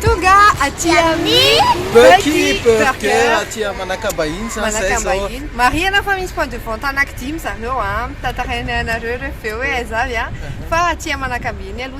Tonga aty amin'ny Bucky Burger aty Manakambahiny zany zay zao. Manakambahiny. Marihana fa misy point de vente anaky dimy zareo an. Tantarainay anareo ireo avy eo hoe aiza avy an. Fa aty Manakambahiny aloha.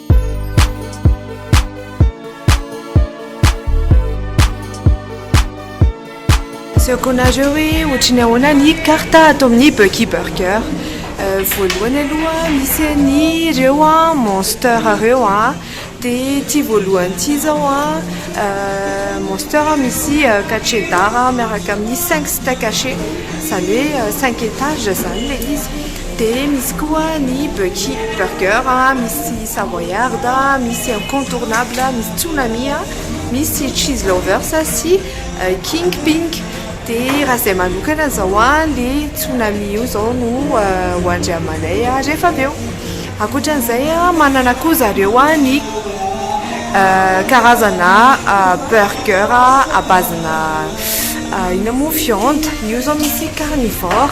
Asehoko anareo hoe ohatry ny ahoana ny karta ato amin'ny Bucky Burger. Euh, voalohany aloha misy an'ireo a ah, monster ireo a, ah. dia ity voalohany ity izao a euh, monster misy euh, cachet d'art miaraka amin'ny cinq stack haché, izany hoe cinq étages izany ilay izy. Dia misy koa ny Bucky Burger, misy Savoyard, misy Incontournable, misy Tsunami, misy Cheese Lovers sy King Ping. Dia raha izay manokana izao ilay Tsunami io izao no hoandry amanay rehefa avy eo. Ankoatra an'izay manana koa zareo ny karazana Burger à base-na inona moa viande, io izao misy Carnivore.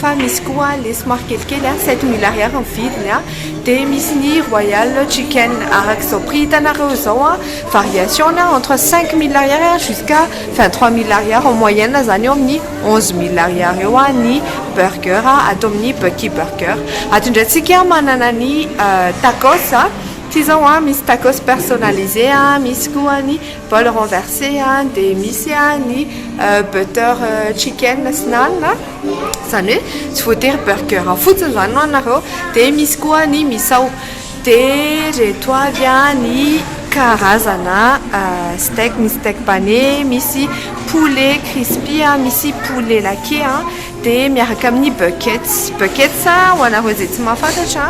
Fa misy koa le somary kelikely a, sept mille ariary ny vidiny a, dia misy ny royal chicken araka izao prix hitanareo izao a, variation-ny a entre cinq mille ariary a jusqu'à vingt trois mille ariary en moyenne izany eo amin'ny onze mille ariary eo a ny burger ato amin'ny Bucky burger. Ato indray tsika manana ny tacos a, ity izao a misy tacos personnalisé a, misy koa ny. Bol renverse dia misy ny butter chicken sy naan, izany hoe tsy voatery burger fotsiny izany no anareo, dia misy koa ny misao, dia ireto avy ny karazana steak, misy steak pane, misy poulet crispy, misy poulet laqué. Dia miaraka amin'ny Buckets. Buckets, ho anareo izay tsy mahafantatra,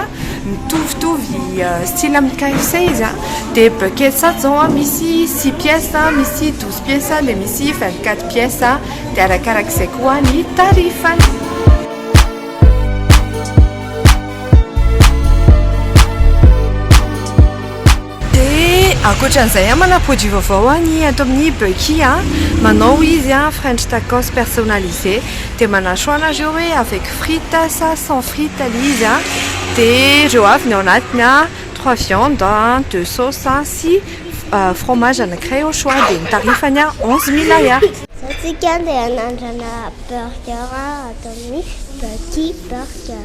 mitovitovy style amin'ny KFC izy. Dia Buckets ato izao misy six pièces, misy douze pièces, dia misy vingt quatre pièces. Dia arakarak'izay koa ny tarifany. Dia ankoatran'izay an, manana produit vaovao an i ato amin'ny Bucky an, manao izy an French tacos personnalisé, dia manana choix nareo hoe avec frites sa sans frites ilay izy an, dia ireo avy ny ao anatiny an, trois viandes an, deux sauces sy fromage anankiray au choix, dia ny tarifany an onze mille ariary. Izao tsika dia hanandrana burger ato amin'ny Bucky burger.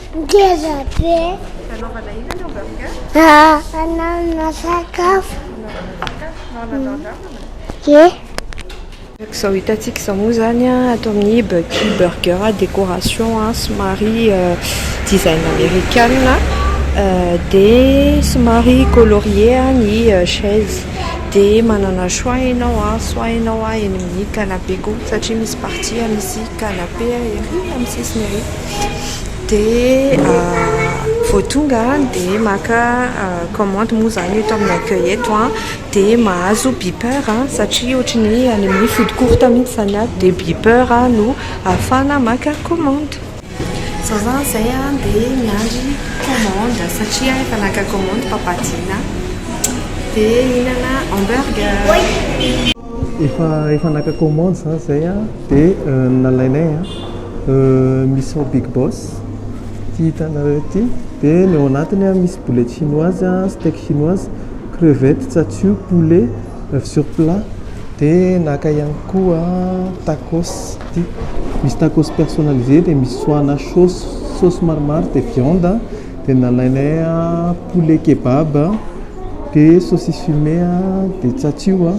Ngeza be. Hanaovana inona ny hamburger? Hanaovana sakafo. Hanaovana sakafo. Ye. Araka izao hitantsika izao moa izany ato amin'ny Bucky Burger, décoration somary design amerikana, dia somary colorié ny chaise, dia manana choix ianao, soit ianao eny amin'ny canapé koa satria misy partie misy canapé ery amin'ny sisiny ery. Dia vao tonga dia maka commande moa izany eto amin'ny accueil eto an, dia mahazo beeper satria ohatry ny hoe any amin'ny food court mihitsy izany an, dia beeper no ahafahana maka commande. Izaho izany izay an dia miandry commande satria efa naka commande papadiana dia hihinana hamburger. Efa efa naka commande za zay a de nalainay a misy ao big boss ity hitanareo ity de ny ao anatiny a misy boulette chinoise a steak chinoise crevette tsatsu poulet oeuf sur plat de naka ihany koa tacos ity misy tacos personnalisé de misy soana sauce sauce maromaro de viande de nalainay poulet kebab. de saucisse fumée a, de tsatsio a,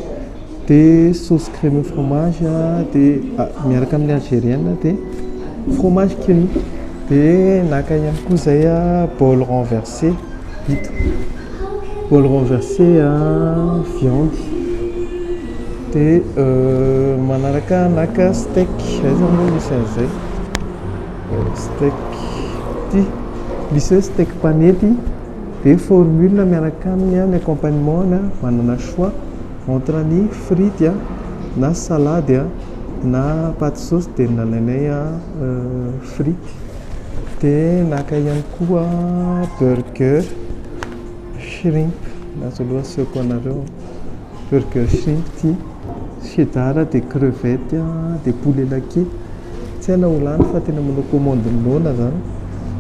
de sauce crème au fromage a, de miaraka amin'ny algerienne de fromage cru, de naka ihany koa zay a bol renverser vita, bol renverser a viande, de manaraka naka steak zay zany aloha misy an'izay, steak ty, misy hoe steak panety. Dia formule miaraka aminy ny accompagnement na manana choix entre ny frity na salade na paty sauce dia nalainay frity dia naka ihany koa burger shrimp na zao aloha asehoko anareo. Burger shrimp ty, cheddar dia crevette dia poulet laqué, tsy hay na ho lany fa tena manao commande ny noana zany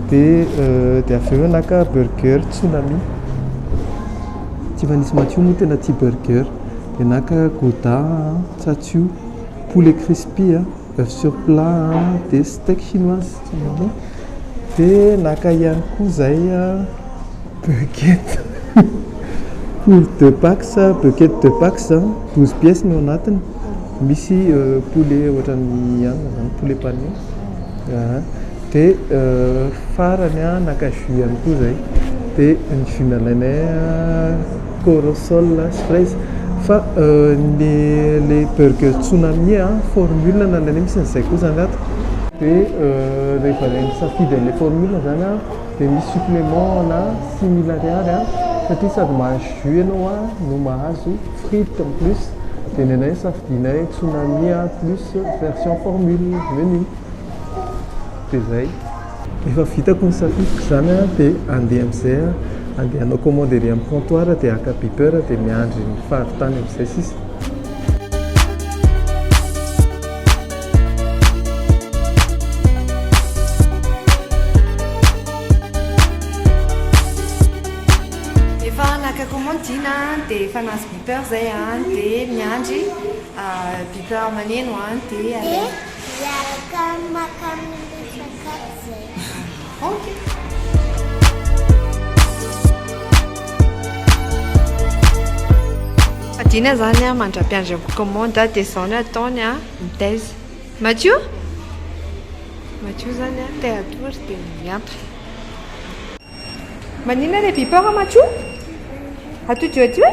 dia dia avy eo naka burger tsunami, Tifanisa Matio moa tena tia burger dia naka gouda, tsatsio, poulet crispy a. Bœuf sur plat a, dia steak chinoise dia naka ihany koa izay bucket pour deux pax, bucket deux pax izany douze pièces no anatiny, misy poulet ohatran'ny anona izany poulet pané aa, dia farany naka jus ihany koa izay, dia ny jus nalainay. Corossol sy fraise fa le le burger tsunami a formule na le misy an'izay koa zany ato de rehefa zay misafidy an'le formule zany a de misy supplement ana simille ariary a satria sady mahazo jus ianao a no mahazo frite en plus de ny anay safidinay tsunami a plus version formule menu de zay. Rehefa vitako ny safidiko izany dia handeha amin'izay aho, handeha hanao commande ery amin'ny comptoir dia haka beeper dia miandry ny fahavitany amin'izay sisa. Efa naka commande Dina dia efa nahazo beeper izay dia miandry beeper maneno dia handeha. Miaraka maka amin'ny sakafo zay. Adina zany a mandra-piandry am commande de zao ny ataony a mitaiza. Madio? Madio zany a te hatory de miantso. Maninona le beeper a Madio? Atody io aty hoe?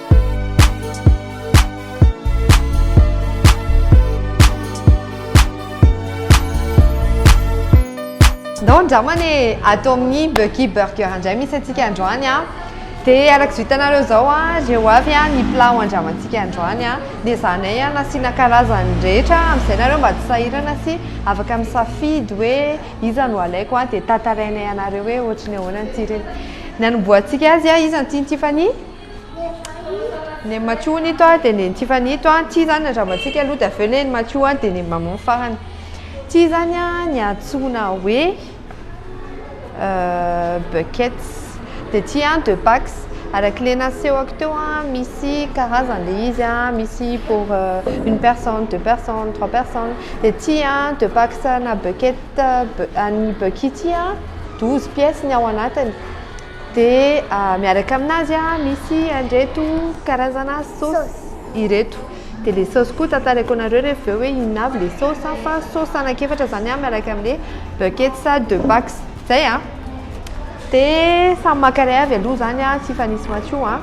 Ndao andramana e, ato amin'ny Bucky Burger indray misy antsika androany a. Dia araka izao hitanareo izao a, ireo avy a ny plat handramantsika androany a. Dia ezahanay a nasiana karazany rehetra amin'izay nareo mba tsy sahirana sy afaka misafidy hoe iza no alaiko a. Dia tantarainay anareo hoe ohatry ny ahoana ny tsirony. Ny hanombohantsika azy a, iza no tian'i Tiffany? Neny Matio hono ito an, dia neny Tiffany ito an, tsia izany ny Ramantsika aloha, dia avy eo neny Matio an, dia neny Maman farany. Tsia izany an ny antsoina hoe buckets. Dia tsia an deux packs. Araka ilay nasehoko teo an, misy karazany ilay izy an, misy pour une personne, deux personnes, trois personnes. Dia tsia an deux packs ana buckets, an'ny Bucky ity an douze pièces ny ao anatiny. dia miaraka aminazy misy andreto karazana saosy ireto dia le saosy koa tantareko anareo rehefa avy eo hoe inona avy le saosy fa saosy anakefatra zany miaraka amle buckets de pax zay a dia samy maka iray avy aloha zany a tsy hifanisy maso io a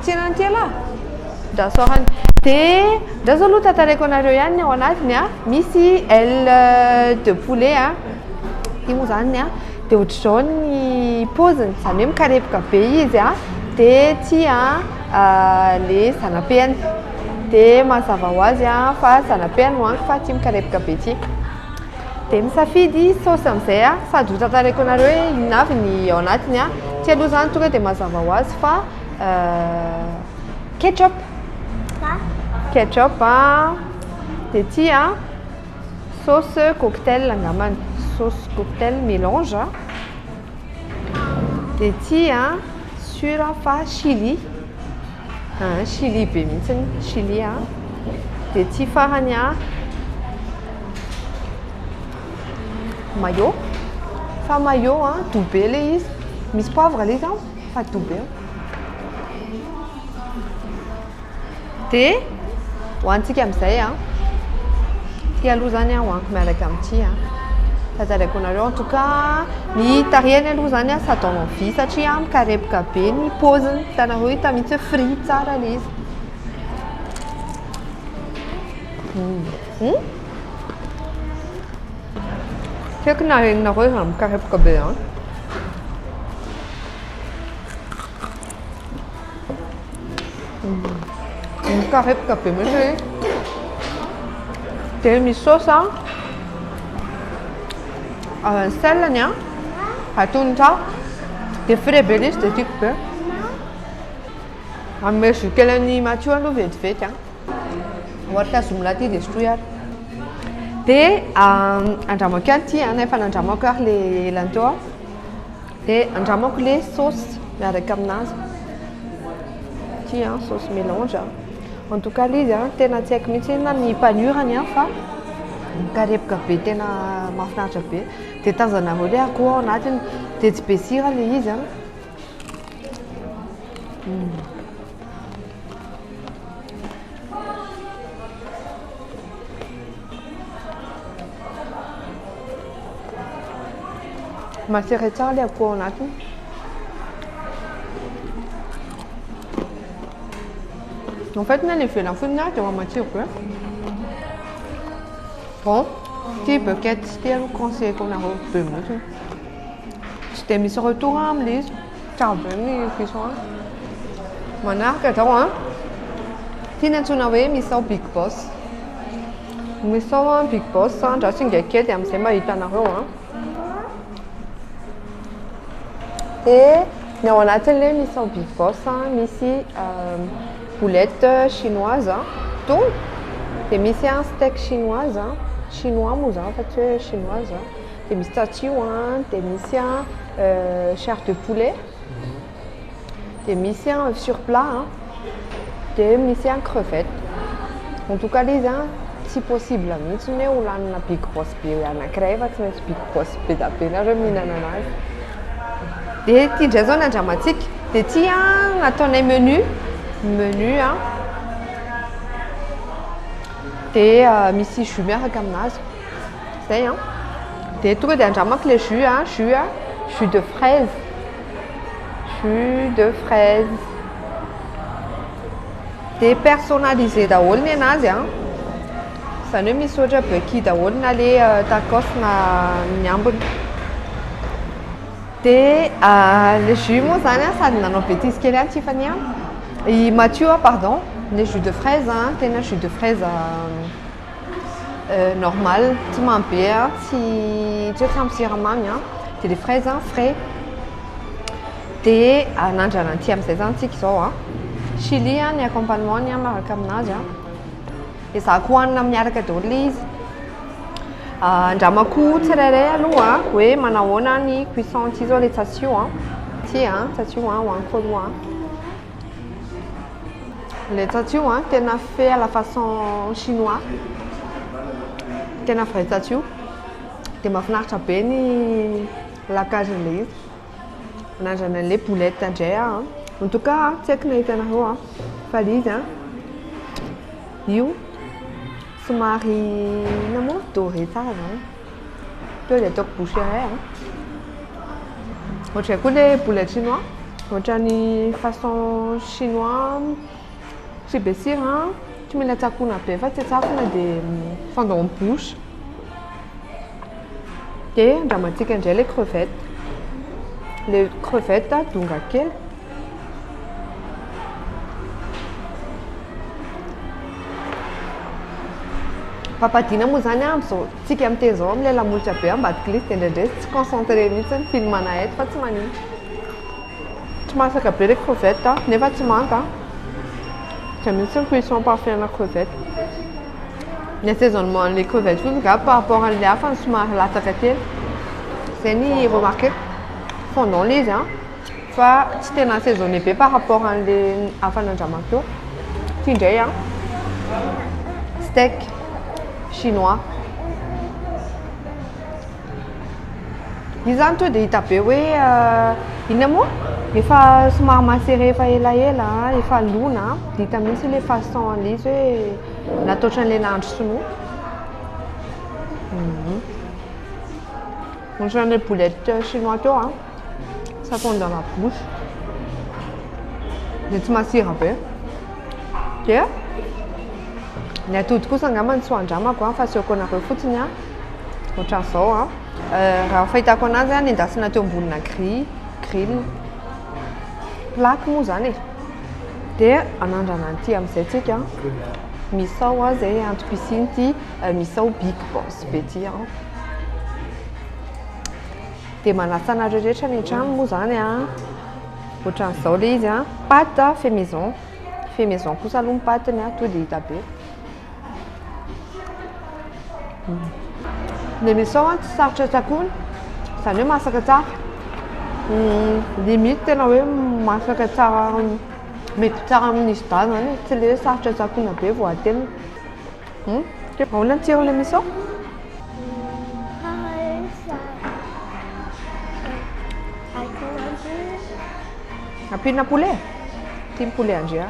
tsy hihinana an'ity ialahy ndra soarany dia ndra zao aloha tantareko anareo ihany ny ao anatiny a misy aile de poulet a ity moa zany ny a Dia ohatr'izao ny paoziny, izany hoe mikarepoka be izy a, dia tia le zana-peany, dia mazava ho azy a fa zana-peany ho angy fa tia mikarepoka be ity. Dia misafidy saosy amin'izay a, sady ho tantaraiko anareo hoe inona avy ny ao anatiny a, ity aloha izany tonga dia mazava ho azy fa ketchup, ketchup a, dia tia. Sauce cocktail angambany, sauce cocktail melange a. Dia ity a, sur aho fa chili, aa chili be mihitsy, chili a. Dia ity farany a, mayo, fa mayo a, doux be ilay izy. Misy poivre ilay izy an, fa doux be. dia hoantsika amin'izay an ity aloha izany an hoaniko miaraka amin'ity an tazaraiko anareo en tout cas ny tarehiny aloha izany an sady en envie satria mikarepoka be ny poziny hitanareo hita mihitsy hoe free tsara ilay izy tsy haiko na renao hoe raha mikarepoka be an Mikarepoka be mihitsy izy. Dia misy saosy an. Ah, ny selany an. Atony tsara. Dia frais be ilay izy dia tiako be. Hanome jus kely an'i Matio aloha vetivety an. Ohatra zoom laty dia sotroy ary. Dia andramako ihany ity an, efa nandramako ary ilay elany teo an. Dia andramako le sauce miaraka aminazy. Ity an, sauce mélange an. En tout cas le izy an, tena tsy haiko mihitsy na ny panure-ny an fa mikarepoka be tena mahafinaritra be. Dia tazanareo le akoho ao anatiny. Dia tsy be sira le izy an. Masera tsara ilay akoho ao anatiny. En fait, na ny ivelany fohy na dia matsiro be. Bon, ity bucket ity aloha conseilleko anareo be mihitsy. Tsy dia misy retour amin'ilay izy. Tsara be ny cuisson an. Manaraka izao an. Ity no antsoina hoe misao big boss. Misao an big boss an, ndra singa kely dia amin'izay mba hitanareo an. Dia ny ao anatin'le misao big boss an, misy boulette chinoise, tony, dia misy an steak chinoise, chinois moa izany fa tsy hoe chinoise. Dia misy tsatio an, dia misy an chair de poulet, dia misy an œuf sur plat an, dia misy an crevette. En tout cas le izy an tsy possible mihitsy ny hoe ho lanina big boss be anankiray fa tsy maintsy big boss be dia be nareo mihinana anazy. Dia ity indray izao ny andramantsika. Dia ity an no ataonay menu, menu an, dia misy jus miaraka aminazy. Zay an. Dia tonga dia andramako ilay jus an, jus an, jus de fraise. Jus de fraise. Dia personnalisé daholo ny anazy an. Izany hoe misy ohatra Bucky daholo na le euh, tacos na ny ambiny. Dia euh, le jus moa zany an, sady nanao bêtise kely an Tiffany an. I Mathieu an, pardon, ny jus de fraise an, tena jus de fraise euh, normal tsy mamy be a, tsy tsy hoe tsy ampy siramamy a, de le fraise a frais, de anandrana aty amin'izay zany tsika izao a, chili a ny accompagnement-ny a miaraka amin'azy a, ezahako hohanina miaraka daholo le izy, andramako tsirairay aloha hoe manahoana ny cuisson aty zao le tsatsio a, aty a tsatsio a hohaniko aloha a. Le tsatsio an, tena fait à la façon chinois, tena vrai tsatsio, dia mahafinaritra be ny lacagen'ilay izy, anandrana an'ilay boulette indray aho an, en tout cas an, tsy haiko na hitanareo an, fa ilay izy an, io somary inona moa, doré tsara izany. Tonga dia ataoko bouche iray an. Ohatray koa le boule chinois. Ohatrany façon chinois tsy be sira, tsy mila tsakoana be fa tsy tsakona dia fondant en bouche. Dia andramantsika indray le crevette. Le crevette donga kely. Papadina moa zany a amzao tsika miteny zao amle lamolotra be ambadika lisy de ndraindray tsy concentré mihitsy ny film ana eto fa tsy manino tsy masaka be le crevette a nefa tsy manta a zay mihitsy ny cuisson parfait ana crevette ny assaisonnement anle crevette fotsiny nga par rapport anle hafa no somary latsaka kely zay ny remarqueko fondant le izy a Fa tsy tena assaisonner be par rapport an'le hafa nandramako teo. Ty ndray an, steak chinois. Io zany tonga dia hita be hoe inona moa? Efa somary macéré efa elaela, efa lona an, dia hita mihitsy ilay façon an'le izy hoe nataotran'ilay nahandro sinoa. Ohatran'ilay boulette chinois teo an. ça fond dans la bouche dia tsy masira be dia ny atody kosa angambany tsy ho andramako an fa asehoko anareo fotsiny an ohatran'izao an euh, raha fahitako anazy an nendasina teo ambonina gris grill plaque moa zany e dia anandrana an'ity amin'izay tsika misao an zay antopisiny ty euh, misao big boss be ty an Dia manasa anareo rehetra any an-trano moa izany a. Ohatran'izao ilay izy a. Pâte fait maison. Fait maison kosa aloha ny pâte-ny a, tonga dia hita be. Ny emission a tsy sarotra tsakoana, izany hoe masaka tsara. Limite tena hoe masaka tsara, mety tsara amin'ny sida izany e, tsy ilay hoe sarotra tsakoana be vao atelina. Hmm? Ke baola ny tsiron'ny misao? Ampinina poulet? Tim poulet Andrea.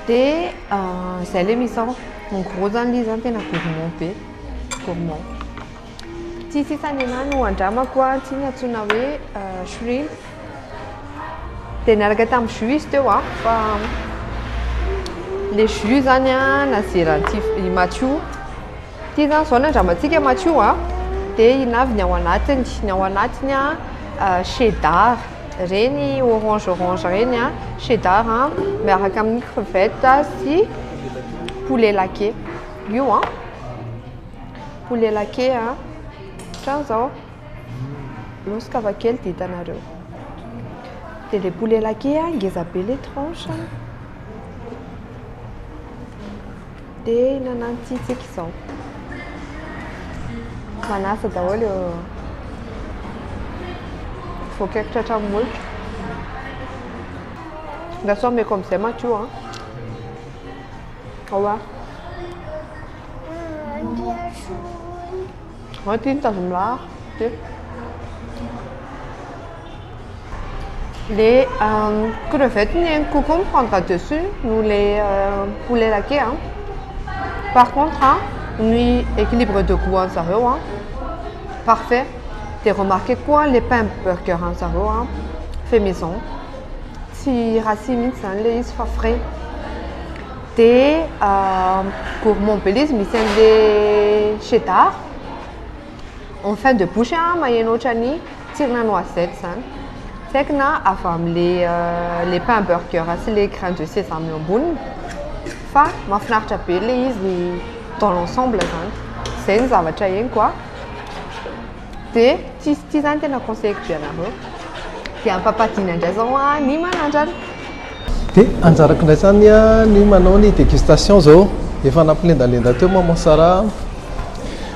Dia ah, izay le misao. En gros zany le izy zany tena gourmand be. Gourmand. Tsy sisany anahy no andramako a, tsy iny antsoina hoe shrimp, dia niaraka tamin'ny jus izy teo a, fa ilay jus izany a nazeran'i Tsiv- i Matio, ity izany izao no andramantsika Matio a, dia inavy ny ao anatiny, ny ao anatiny a cheddar, ireny orange orange ireny a, cheddar a miaraka amin'ny crevettes sy poulet laqué, io an. Poulet laqué a, ohatran zao, alosy ka avy akely dia hitanareo. Dia ilay poulet laqué a, ngeza be ilay tranche a. Dia hihinana an'ity isika izao. Manasa daholo eo voakaiko tratran'ny molotra. Nga sao omeko amin'izay maty io an. Ao a. Aty ny tazomilahara ty. Le euh, crevette ny ainy kokoa mi prendra dessus no le euh, poulet laqué a. Par contre a, ny équilibre de goût an'i zareo a, parfait. Dia remarquer koa le pain burger an'i zareo a, fait maison. Tsy rassis mihitsy zany le izy fa frais. Dia gourmand belize misy an'ilay cheddar, en fin de bouche an, maheno ohatran'ny tsirina noisette izany. Tsy haiko na avy amin'ilay pain burger sy ilay grain de sésame eo amboniny fa mahafinaritra be ilay izy dans l'ensemble izany. Izay no zavatra henoko an. dia tsisy ity zany tena conseilleko be anareo dia ampapadina indray zao a ny manandrana dia anjarako indray zany a ny manao ny dégustation zao efa nampilendalenda teo maman sara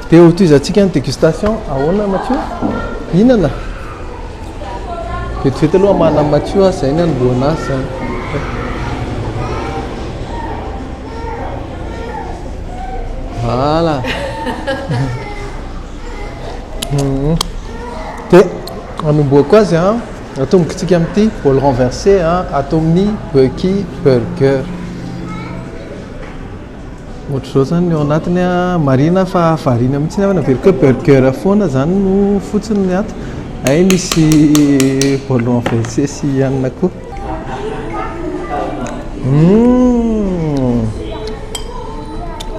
dia ho tohizantsika ny dégustation ahoana matio mihinana vetivety aloha hamahana ny matio a zay ny anombohana azy zany voilà Mhm. Dia anombohako azy an, atombokitsika amin'ity bol renversé an, ato amin'ny Bucky Burger. Ohatr'izao izany ny ao anatiny an, marihina fa variana mihitsy ny ao na Burcky Burger foana izany no fotsiny ny ato. Hay misy bol renversé sy hanina koa.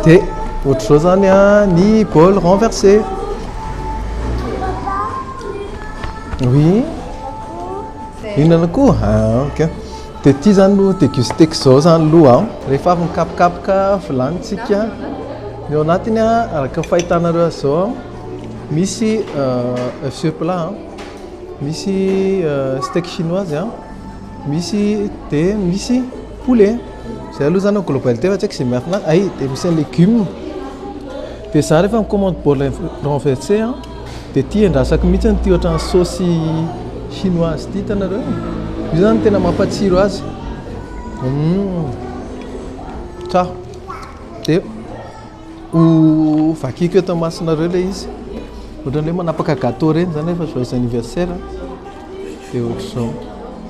Dia ohatr'izao izany ny bol renversé. Oui. Mihinana koa? Ah, ok. Dia ity izany no dégusté izao izany aloha. Rehefa avy mikapokapoka vilanintsika, ny ao anatiny araka ny fahitanareo azy izao, misy œuf sur plat. Misy steak chinoise a, misy dia misy poulet. Izay aloha izany globalité fa tsy haiko izay miafina ay, dia misy ny légumes. Dia izaho rehefa mi-commande bol renversé a, dia ity andrasako mihitsy ity ohatran'ny saosy chinoise ity, hitanareo. Io izany no tena mampatsiro azy. Hum, tsara dia. Ho vakiako eto imasonareo ilay izy. Ohatran'ny hoe manapaka gâteau ireny izany rehefa joyeux anniversaire. Dia ohatr'izao.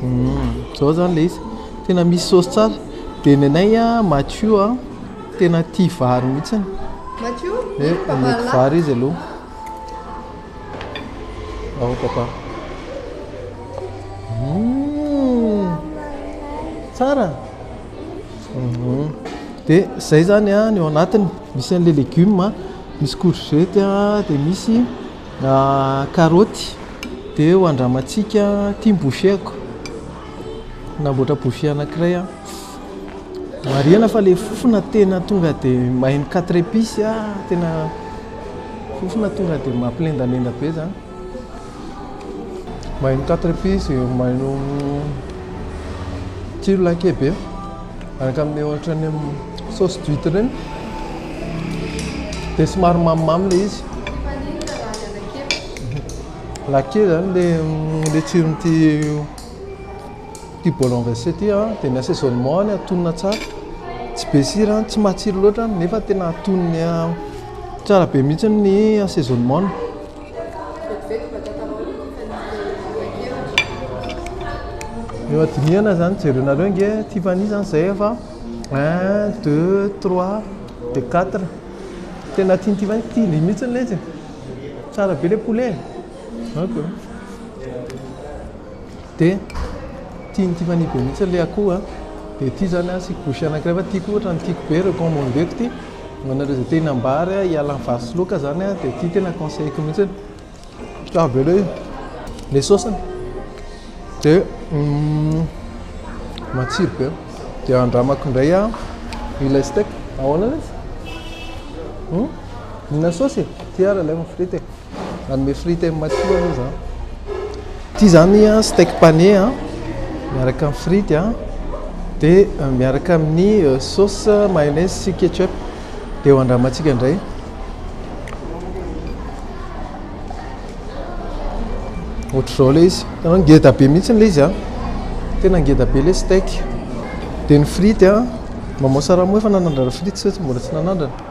Hmm, izao izany ilay izy. Tena misy saosy tsara. Dia ny anay Mathieu tena tia vary mihitsy. Mathieu? Eh, omeko vary izy aloha. Ao papa. Hmm, tsara. dia izay izany ny ao anatiny, misy an'ilay legioma, misy courgette, dia misy karaoty, dia ho andramantsika, ity ny boucher-ko, nanamboatra boucher anankiray aho, marihina fa ilay fofona tena tonga dia mahay quatre epices, tena fofona tonga dia mampilendalenda be izany. Mailo quatre épices, mailo tsiro lahy kely be araka amin'ny ohatran'ny sauce d'huitre ireny dia somary mamimamy ilay izy. Lahy kely izany ilay ilay tsiron'ity ity bol en verse ity an, dia ny assaisonnement any atonona tsara, tsy be sira, tsy matsiro loatra nefa tena atonony tsara be mihitsy ny assaisonnement-ny. Eo adinihana zany jerenareo nge Tiffany zany zay efa un deux trois de quatre tena tian'i Tiffany tiany mihitsy le izy e tsara be le poulet e ok de tian'i Tiffany be mihitsy le akoho a de ty zany asiako bouchee anankiray fa tiako ohatra ny tiako be recommandeko ty Manao le zay tiany ambara a, hiala am vary sy laoka zany a, de ty tena conseilleko mihitsy hoe tsara be le le saosiny de matsiro be, de andramako ndray a ilay steak, ahoana le izy? Mihinana saosy e? Ty ary aleo ny frity e. Nanome frite amin'ny matoa aloha za. Ity zany steak pané a, miaraka amin'ny frite a, dia euh, miaraka amin'ny euh, sauce mayonnaise sy ketchup. Dia ho andramantsika indray. Ohatr'izao ilay izy. Tanao ngeda be mihitsy ilay izy a. Tena ngeda be ilay steak. Dia ny frite a, maman Saramo efa nanandrana frite sa tsy mbola tsy nanandrana?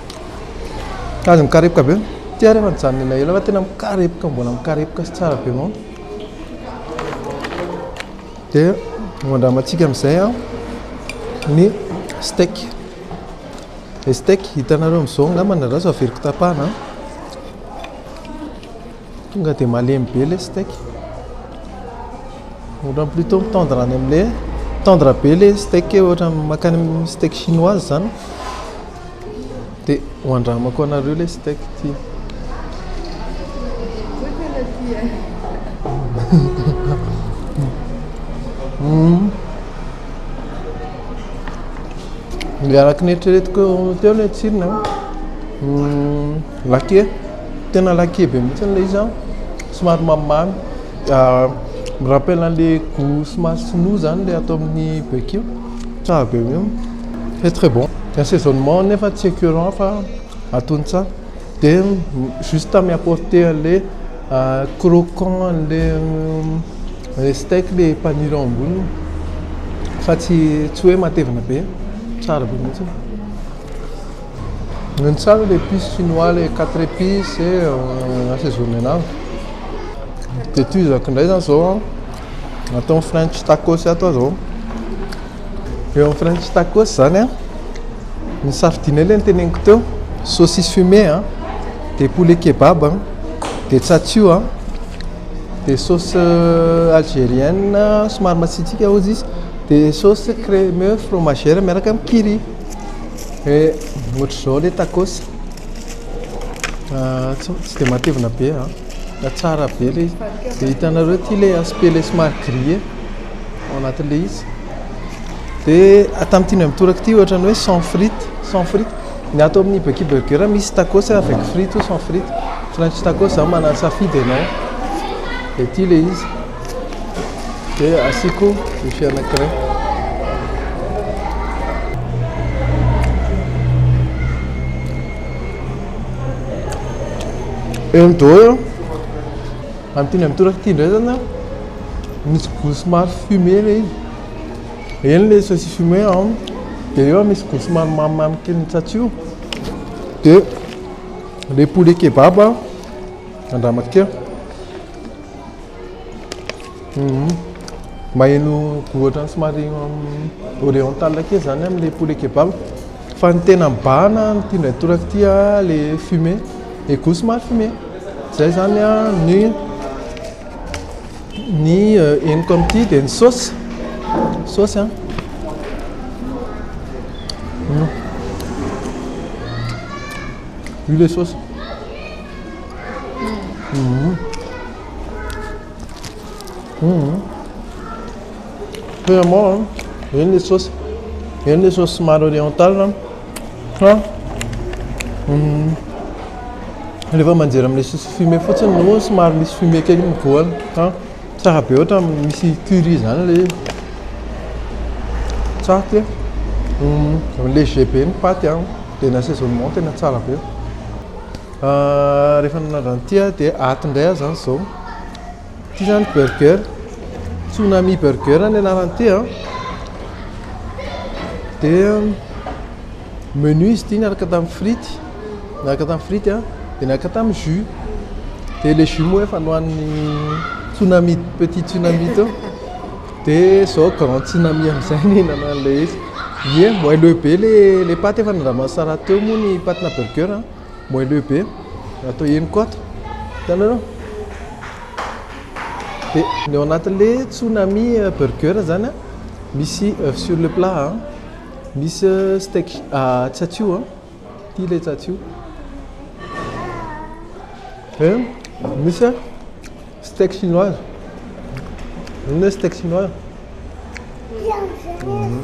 Aza mikarepoka be. Ty ary efa nijanona ela ela fa tena mikarepoka mbola mikarepoka sy tsara be mao. Dia andramantsika amin'izay ny steak. Ny steak hitanareo amin'izao angamba na ratsy averiko tapahana. Tonga dia malemy be ilay steak. Ohatran'ny plutôt mitendre any amin'ilay tendre be ilay steak ohatran'ny makany amin'ny steak chinoise izany. Dia ho andramako anareo ilay steak ity. Mm. Ilay araka ny eritreretiko teo ilay tsirony a. Mm, lakie, tena lakie be mihitsy ilay izy an. Somary mamimamy. Ah, me rappelle an'ilay goût somary sinoa izany ilay ato amin'ny barbecue. Tsara be io. C'est très bon. Ny assaisonnement nefa tsy écœurant fa atony tsara. Dia juste mi-apporter an'ilay ah, croquant an'ilay ilay steak ilay paniry ao amboniny fa tsy tsy hoe matevina be. Tsara be mihitsy io. Ny tsara ilay épices chinois ilay quatre épices assaisonner an'azy. Dia toy izako indray izany izao an. atao ny french tacos ato aza eo amin'ny french tacos zany a ny safidinay le ny teneniko teo saucisse fumé a de poulet kebab a de tsatsio a de sauce euh, algérienne somary matsitsika ozy izy de sauce crème fromagère miaraka amin'ny kiri e ohatr'izao le tacos ah, tsy de matevina be a Tsara be ilay izy. Dia hitanareo ity ilay aspect ilay somary gris ao anatin'ilay izy. Dia tamin'ity indray mitoraka ity ohatran'ny hoe sans frites, sans frites. Ny ato amin'ny Bucky Burger misy tacos avec frites ou sans frites. French tacos zany manatsafidy ianao. Dia ity ilay izy. Dia asiako ny fianankiray. eo amin'ny dôha eo amin'ny teny amin'ny toraka ity indray zany misy goût somary fumé ilay izy eny ilay saucisse fumé an dia eo misy goût somary mamimamy kely ny tsatsy io dia ilay poulet kebab an andramatiko eo Maheno ohatran'ny somary oriental kely izany amin'ilay poulet kebab. Fa ny tena mibahana amin'ity indray toraka ity ilay fumée, ilay goût somary fumée. Izay izany ny ny henoko amin'ity. Dia ny saosy, ny saosy an. Io ilay saosy. Paiement a, eny le saosy, eny le saosy somary oriental a, fa rehefa manjera amin'ilay saosy fumé fotsiny no somary misy fumé kely mivoana fa tsara be ohatra misy curry zany le izy, tsara ty e, léger be ny paty a, de ny assaisonnement tena tsara be. Rehefa nanandrana ity aho dia ato indray aho izany izao. Ity izany burger, Tsunami burger ny anaran'ity a. Dia menu izy ity niaraka tamin'ny frity, niaraka tamin'ny frity a, dia niaraka tamin'ny jus. Dia ilay jus moa efa nohanin'ny Tsunami, petit Tsunami teo. Dia izao grand Tsunami amin'izay nihinana an'ilay izy. Ie, moelleux be ilay paty efa nandraman'i Sarah teo moa ny patina burger a. moelleux be atao henoko ato hitanareo dia ny ao anatin'le tsunami euh, burger zany a misy euh, sur le plat a misy euh, steak ah, tsatsio a ty le tsatsio e eh, misy a steak chinoise inona steak chinoise mhm.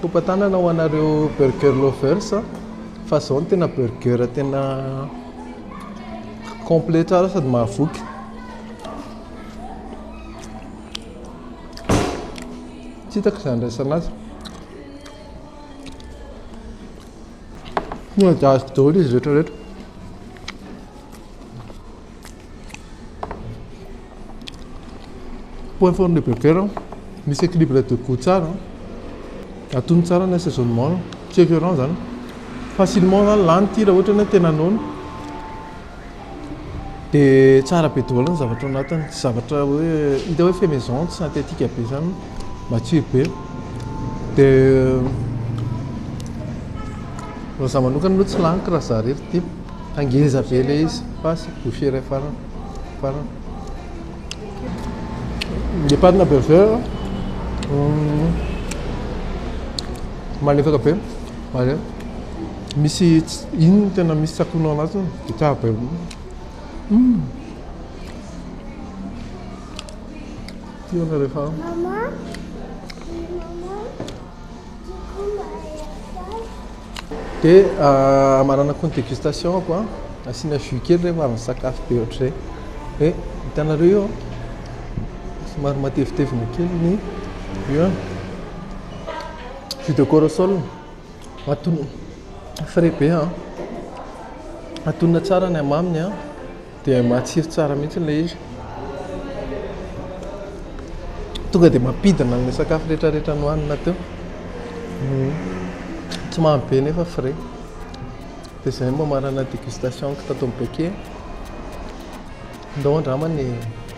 Topa-tanana ho anareo burger lovers a! Fa zao no tena burger tena complet tsara sady mahavoky. Tsy hitako izay handraisana azy. Tonga dia azoko daholo izy rehetra rehetra. Point fort ny bebe raha misy équilibre de goût tsara, atony tsara ny assaisonnement, tsy écœurant zany. Facilement zany lany ity raha ohatra hoe tena noana. De tsara be daholo ny zavatra ao anatiny, tsy zavatra hoe hita hoe fait maison, tsy synthétique be zany, matsiro be. De raha za manokana aloha tsy laniko raha za irery ity. Fa ngeza be le izy fa sy bouche iray farany farany. Le patina burger malefaka be ary misy iny tena misy tsakoana ao anatiny dia tsara be. Tiana rehefa. Dia amarana koa ny dégustation ako an! Asiana jus kely rehefa avy nisakafo be ohatr'izay. Dia hitanareo io an! Somary matevitevina kely ny io an! Jus de corosol ato frais be an! Atonona tsara ny hamaminy an! Dia matsiro tsara mihitsy ilay izy. Tonga dia mampidina an'ilay sakafo rehetrarehetra nohanina teo. Hmm. Tsy mamy be nefa frais. Dia izay no mamarana dégustation-ko tato amin'ny Beke. Ndao angamba ny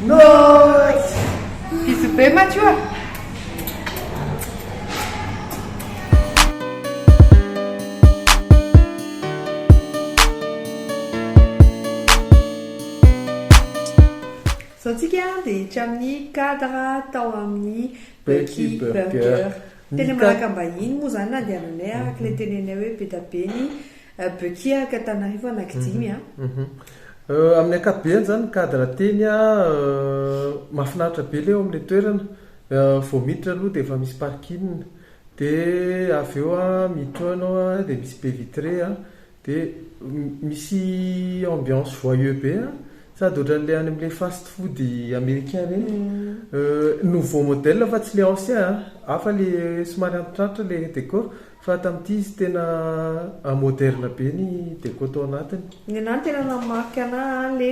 Notes! Bisous be Mathieu a! Izao tsika dia hiditra amin'ny cadre tao amin'ny Becky Burger. Teny Malakambahiny moa izany na dia aminay araka ilay tenenay hoe be dia be ny Bekia ka Tanarivo anaky dimy a. Amin'ny ankapobeny izany ny cadre teny a mahafinaritra be ilay eo amin'ilay toerana, vao miditra aloha dia efa misy parking, dia avy eo a miditra eo ianao a dia misy baie vitrée a, dia misy ambiance joyeux be a, sady ohatran'ilay any amin'ilay fast food americain ireny, nouveau modèle fa tsy ilay ancien a, hafa ilay somary antitrantitra ilay décor Fa tamin'ity izy tena a moderne be ny deco tao anatiny. Ny anah ny tena nanamarika anah an le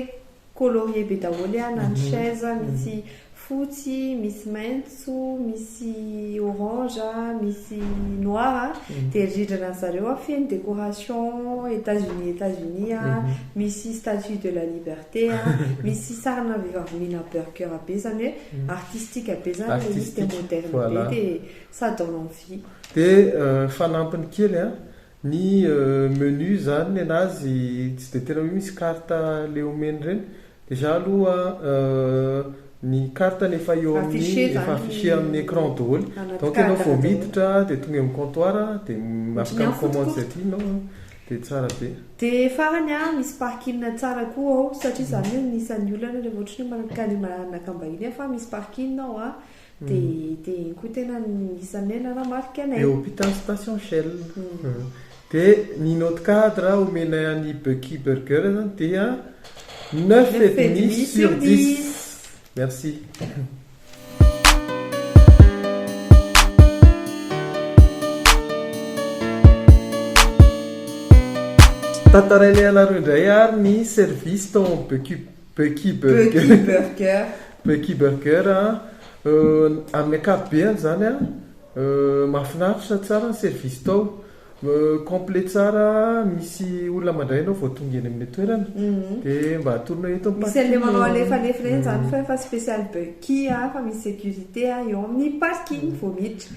colorie be daholo an na ny chaise misy fotsy, misy maintso, misy orange, misy noir an dia rindrina ny zareo an feno decoration Etats Unis Etats Unis an misy statue de la liberté an misy sarina vehivavy mihina burger be izany hoe artistique be izany ilay izy dia moderne be dia ça donne envie. Dia fanampiny kely an, ny menu zany nenazy tsy dia tena hoe misy carte le omeny ireny, déjà aloha ny carte ny efa eo amin'ny efa afficher amin'ny écran daholo, donc enao vao miditra dia tonga eo amin'ny comptoir dia afaka mi-commande izay tianao an, dia tsara be. Dia farany an, misy parking tsara koa ao, satria za anie anisan'ny olana rehefa ohatra hoe manakana manakam-bahiny aho fa misy parking ao an, Dia dia iny koa tena isan'ny hoe nanamarika anay. Eo hôpital station shell. Dia ny note cadre homenay an'i Bucky Burger zany dia neuf et demi sur dix. Merci. Tantarainay anareo indray ary ny service tao amin'ny Bucky. Becky Burger. Becky Burger a, amin'ny ankapobeny izany a, mahafinaritra, tsara ny service tao, complet tsara, misy olona mandray anao vao tonga eny amin'ny toerana, dia mba atolonao eto ny parking e. Misy an'ilay manao alefalefa ireny izany fa efa special Becky a, fa misy sécurité a, eo amin'ny parking vao miditra.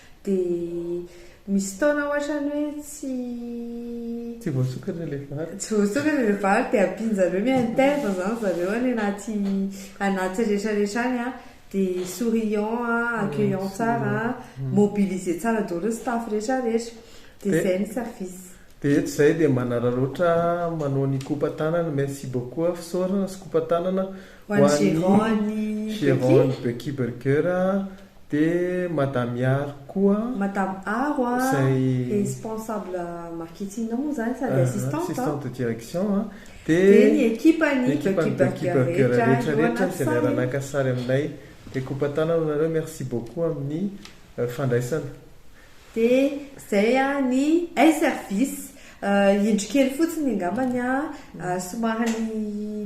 Dia misy fotoana ohatrany hoe tsy. Tsy voasokatra ilay vary. Tsy voasokatra ilay vary dia ampian'zareo hoe mi-intègre zany zareo any anaty anaty retraretra any an, dia souriant an, accueillant tsara an, mobiliser tsara daholo ny staff retraretra. Dia izay ny service. Dia eto izay dia manararaotra manao ny coupe tanana, merci beaucoup fisaorana sy coupe tanana Ho an'i Gerony Gerony Böckiberger dia Madame Yaro koa. Madame Aro a, responsable marketing moa izany sady assistante a. Assistante de direction a. Dia ny ekipan'i Böckiberger rehetra no naka sary. Izay niara-naka sary aminay. Dia kopa-tanana aminareo, merci beaucoup amin'ny fandraisana. Dia izay an ny hay service. Indro kely fotsiny angambany an, somary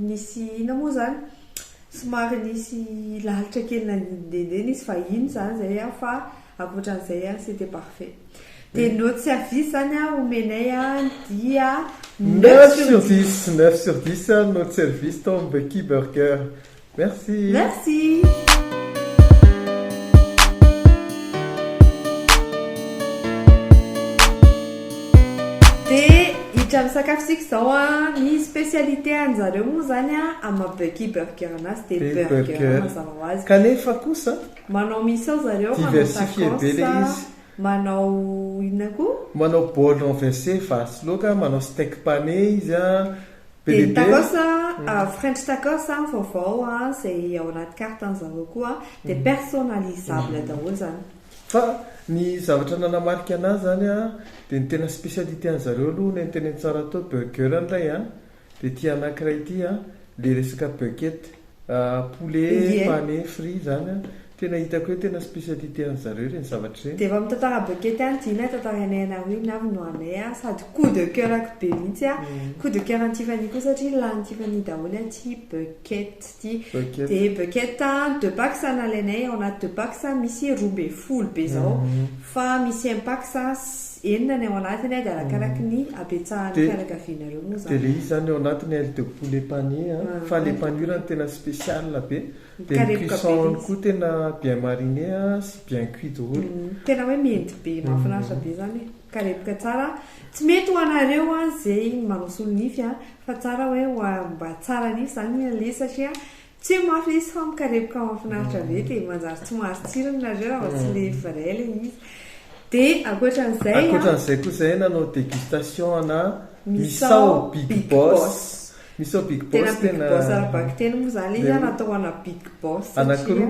nisy inona moa izany, somary nisy lalitra kely nandehandeha nisy vahiny izany izay an, fa ankoatra an'izay an c'était parfait. Dia ny autre service izany an omenay an dia neuf sur dix. Neuf sur dix, neuf sur dix ny autre service tao amin'ny Becky Burger. Merci. Merci. Dia hiditra amin'ny sakafo isika izao an, ny specialité anjareo moa izany an, amin'ny maha Bucky Burger anazy dia burger burger. mazava ho azy. Kanefa kosa, Manao misao zareo, manao diversifier be tacos, ilay izy. manao inona koa? Manao bol renverse, vary sy laoka, manao steak pané izy an. Dia ny tacos an, french tacos an, vaovao an, izay ao anaty carte an zareo koa an, dia personnalisable daholo izany. Fa ny zavatra nanamarika an'ahy izany an, dia ny tena specialité an'i zareo aloha nentinenty tsara tao, burger indray an, dia ity anankiray ity an, ilay resaka bucket, Poulet Inge. pane frit izany an, tena hitako hoe tena spécialité an'i zareo ireny zavatra ireny. Dia vao mitantara Bucket any dino e, tantarainay anareo iny avy no anay a, sady coup de coeur-ko be mihitsy a, coup de coeur an'i Tiffany koa satria lanin'i Tiffany daholo aty Bucket ty, Bucket. dia Bucket a, deux packs a nalainay, ao anaty deux packs a misy roa ambin'ny folo be zao, fa misy un packs a, Eny na ny ao anatiny ady arakaraky ny habetsahan'ny fianakavianareo moa zany. Dia le izy zany ao anatiny aile de poulet pané a, fa le panure no tena spécial be, dia ny cuisson-ny koa tena bien mariné a sy bien cuit daholo. Tena hoe miendy be, mahafinaritra be zany e, mikarepoka tsara, tsy mety ho anareo an ze manao solonify an, fa tsara hoe ho a mba tsara nify zany le sachet an, Tsia mafy le izy fa mikarepoka mahafinaritra be dia manjary tsy mahazo tsirony nareo raha vao tsy le vrai le izy. Dia ankoatran'izay an. Ankoatran'izay koa zahay nanao dégustation ana misao big boss. Misao big boss tena. Tena big boss ara-bakiteny moa zany le izy an natao ana big boss satria. Anakiroa.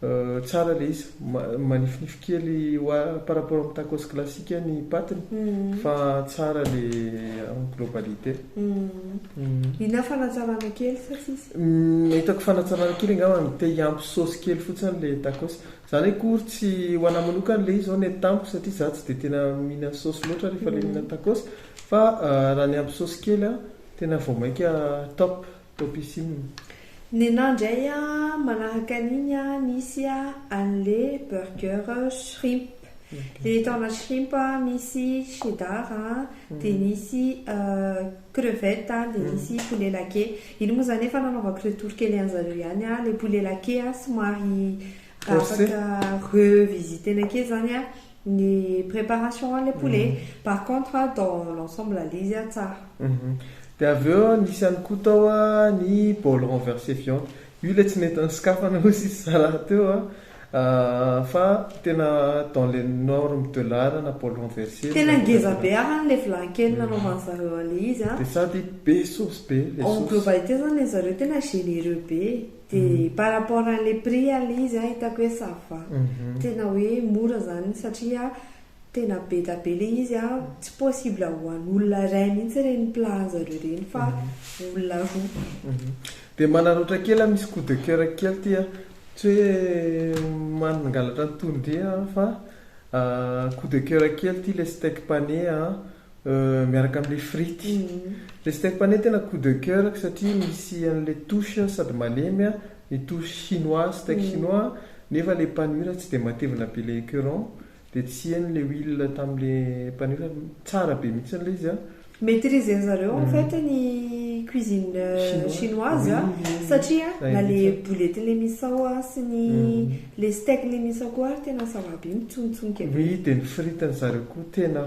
Tsara ilay izy, manifinify kely hoa par rapport amin'ny tacos classique ny patiny fa tsara le en globalité. Inona fanatsarana kely sa tsisy? Ny hitako fanatsarana kely angamba ny te hiampy saosy kely fotsiny le tacos. Za ndray akory tsy, ho anahy manokana le izy zao net tamiko satria za tsy dia tena mihinana saosy loatra rehefa le mihinana tacos fa raha ny ampy saosy kely tena vao mainka top. Topissime. Nenah ndray a manahaka an'iny a misy a an'le burger shrimp le eto ana shrimp a misy cheddar a de misy crevette a de misy poulet laqué iny moa zany efa nanaovako retour kely an'zareo ihany a le poulet laqué a somary afaka revisiter-na kely zany a Ny préparation anle poulet. Par contre dans l'ensemble le izy tsara. Dia avy eo nisy ihany koa tao ny bol renverse viande. Io ilay tsy nentiny sokafana hoy sisa zalahy teo an. Fa tena dans les normes de l'art na bol renverse. Tena ngeza be ary ilay vilany kely nanaovan'ny zareo anle izy an. Dia sady be sauce be ilay sauce. En globalité izany ilay zareo tena généreux be e. Dia par rapport à le prix aloha izy an hitako hoe ça va. Tena hoe mora izany satria tena beda be ilay izy an, tsy possible ho an'olona iray mihitsy ireny plat-njareo ireny fa olona roa. Dia manararaotra kely an, misy coup de coeur kely ity an, tsy hoe mangalatra ny tononkira an fa coup de coeur kely ity ilay steak pané an, miaraka amle frity le steak pane tena coup de coeur-ko satria misy anle touche sady malemy a ny touche chinois steak chinois nefa le panure tsy de matevina be le ecuron de tsy heno le huile tamle panure tsara be mihitsy le izy a. Maitrise-ny zareo en fait ny cuisine chinoise a satria na le boulettenle misao a sy ny le steak-nle misao koa ary tena ça va be mitsongotsongoka be oui de ny fritiny zareo koa tena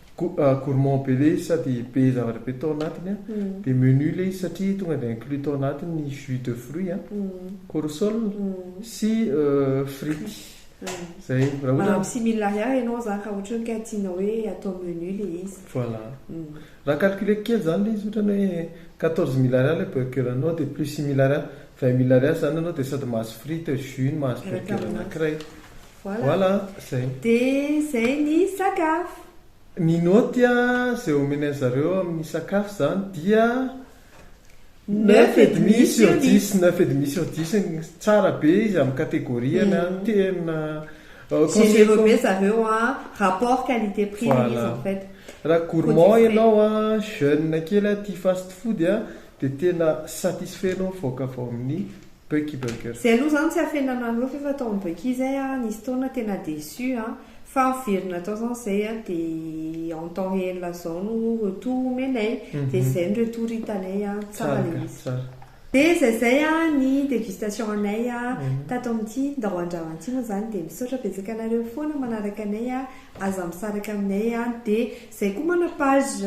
Gourmand be le izy sady be zavatra be tao anatiny a, dia menu le izy satria tonga dia inclus tao anatiny ny jus de fruit a, corosol sy frites zay. Maha similahy ahy ianao zany raha ohatry ny ka tianao hoe atao menu le izy. Voilà. Raha calculer-ko kely zany le izy ohatran'ny hoe quatorze mille ariary le burger-nao dia plus six mille ariary, vingt mille ariary zany ianao dia sady mahazo frites, jus-ny, mahazo burger anankiray. Voilà zay. De zay ny sakafo. Ny naoty izay omena an zareo amin'ny sakafo izany dia neuf et demi sur dix, neuf et demi sur dix, tsara be izy amin'ny catégorie-ny an, tena Généreux be zareo an, rapport qualité prix le izy en fait. Raha gourmand ianao an, jeune kely an, tia fast food an, dia tena satisfait ianao mivoaka avy ao amin'ny Bucky Burger. Zay aloha zany tsy afenana loatra nefa tao am Bucky zay ah nisy fotoana tena déçu ah fa miverina tao zany zay ah de en temps réel zao no retour omenay de zay no retour hitanay ah tsara le izy. De zay zay ah ny dégustation anay ah tato amin'ity ndao andrama ity moa zany de misaotra betsaka anareo foana manaraka anay ah aza misaraka aminay ah de Zay koa mana page,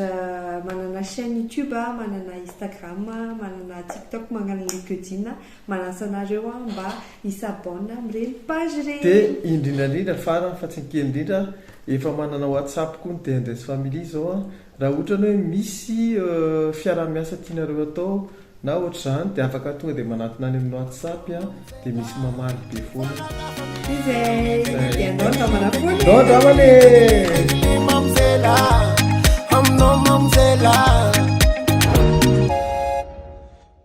manana chaine youtube a, manana instagram a, manana tiktok magnana linkedin a, manasa anareo aho mba hi s'abonne amin'ireny page ireny. Dia indrindra indrindra farany fa tsy ny kely indrindra efa manana whatsapp koa ny DNDS family izao a, raha otrany hoe misy fiaraha-miasa tianareo atao Na ohatr'izany dia afaka tonga dia manatona any amin'ny whatsapp dia misy mamaly be foana. Izay